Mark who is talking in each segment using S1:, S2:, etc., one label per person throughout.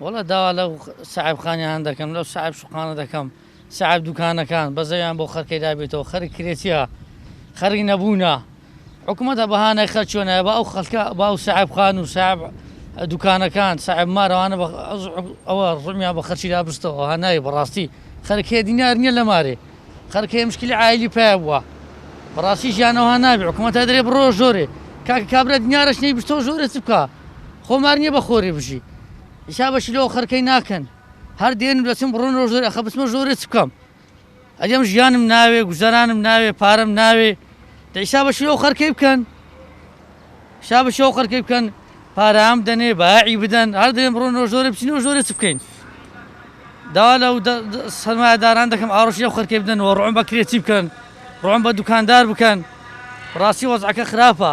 S1: وەڵا داوا لەو سعب خانیان دەکەم لەو سعب شوقانە دەکەم سەعب دوکانەکان بەزەویان بۆ خەرکەی دابێتەوە خەرک کرێ چیا خەرک نەبوونە حکومەتە بەهانای خەر چۆن با ئەو خەلکە با و سەعب خان و سەعب دوکانەکان سەعب مارەوانە بە ئەوە ڕمیان بە خەرچی دابستەوە ها ناوی بەڕاستی خەرکێ دینار نییە لە مارێ خەرکێ مشکلی عیلی پای بووە بەڕاستی ژیانەوە نابێ حکومەت تا درێ بڕۆ ژۆرێ کاکە کابرا دینارش نەی بستەوە ژۆرێ چ بکە خۆمار نییە بە خۆری بژی حسابەشی لەوە خەرکەی ناکەن هەر دێنم دەچم بڕۆن ڕۆژ دەێ ئەخە بچمە ژۆرێ چ بکەم ئەجەم ژیانم ناوێ گوزەرانم ناوێ پارەم ناوێ دەیشا بە شیرەوە خەرکەی بکەن شا بە شەوە خەرکەی بکەن پارام دەنێ باعی بدەن هەر دێن بڕۆن ڕۆژ ژۆرە بچین و ژۆرێ چ بکەین داوا لە سەرمایەداران دەکەم ئاڕشی و خەرکەی بدەن و ڕۆم بە کرێتی بکەن ڕۆم بە دوکاندار بکەن ڕاستی وەزعەکە خراپە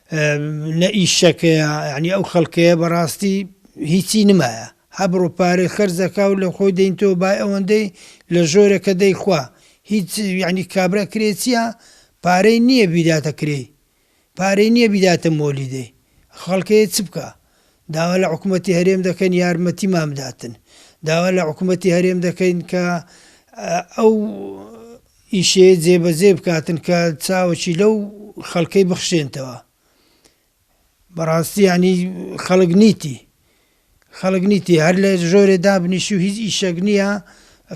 S2: لە ئیشەکەیا یانی ئەو خەلکەیە بەراستی هیچی نمایە هە بڕۆ پارەی خەرج ئەکا و لە خۆی دەینتەوە بای ئەوەندەی لە ژۆرە کە دەی خوا هیچ یانی کابرا کرێ چیا پارەی نیە بیداتە کرێی پارەی نیە بیداتە مۆلیدەی خەلکەیە چ بکا داوا لە حکومەتی هەرێم دەکەین یارمەتیمان بداتن، داوا لە حکومەتی هەرێم دەکەین کە ئەو ئیشەیە جێبەجێ بکاتن کە چاوەکی لەو خەڵکەی بخشێنتەوە. بەڕاستی یانی خەڵک نیتی، خەڵک نیتی هەر لە ژۆرێ دابنیشی و هیچ ئیشەک نییە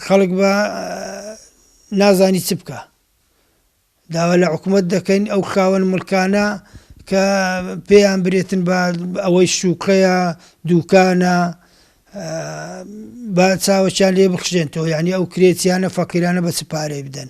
S2: خەڵک بە نازانی چ بکا. داوا لە حکومەت دەکەین ئەو خاوەن ملکانە کە پێیان برێتن بە ئەوەی سوکەیە دووکانە با چاوەچیان لێ بخشێنەوە یعنی ئەو کرێچیانە فەقیرانە بە چ پارەی بدەن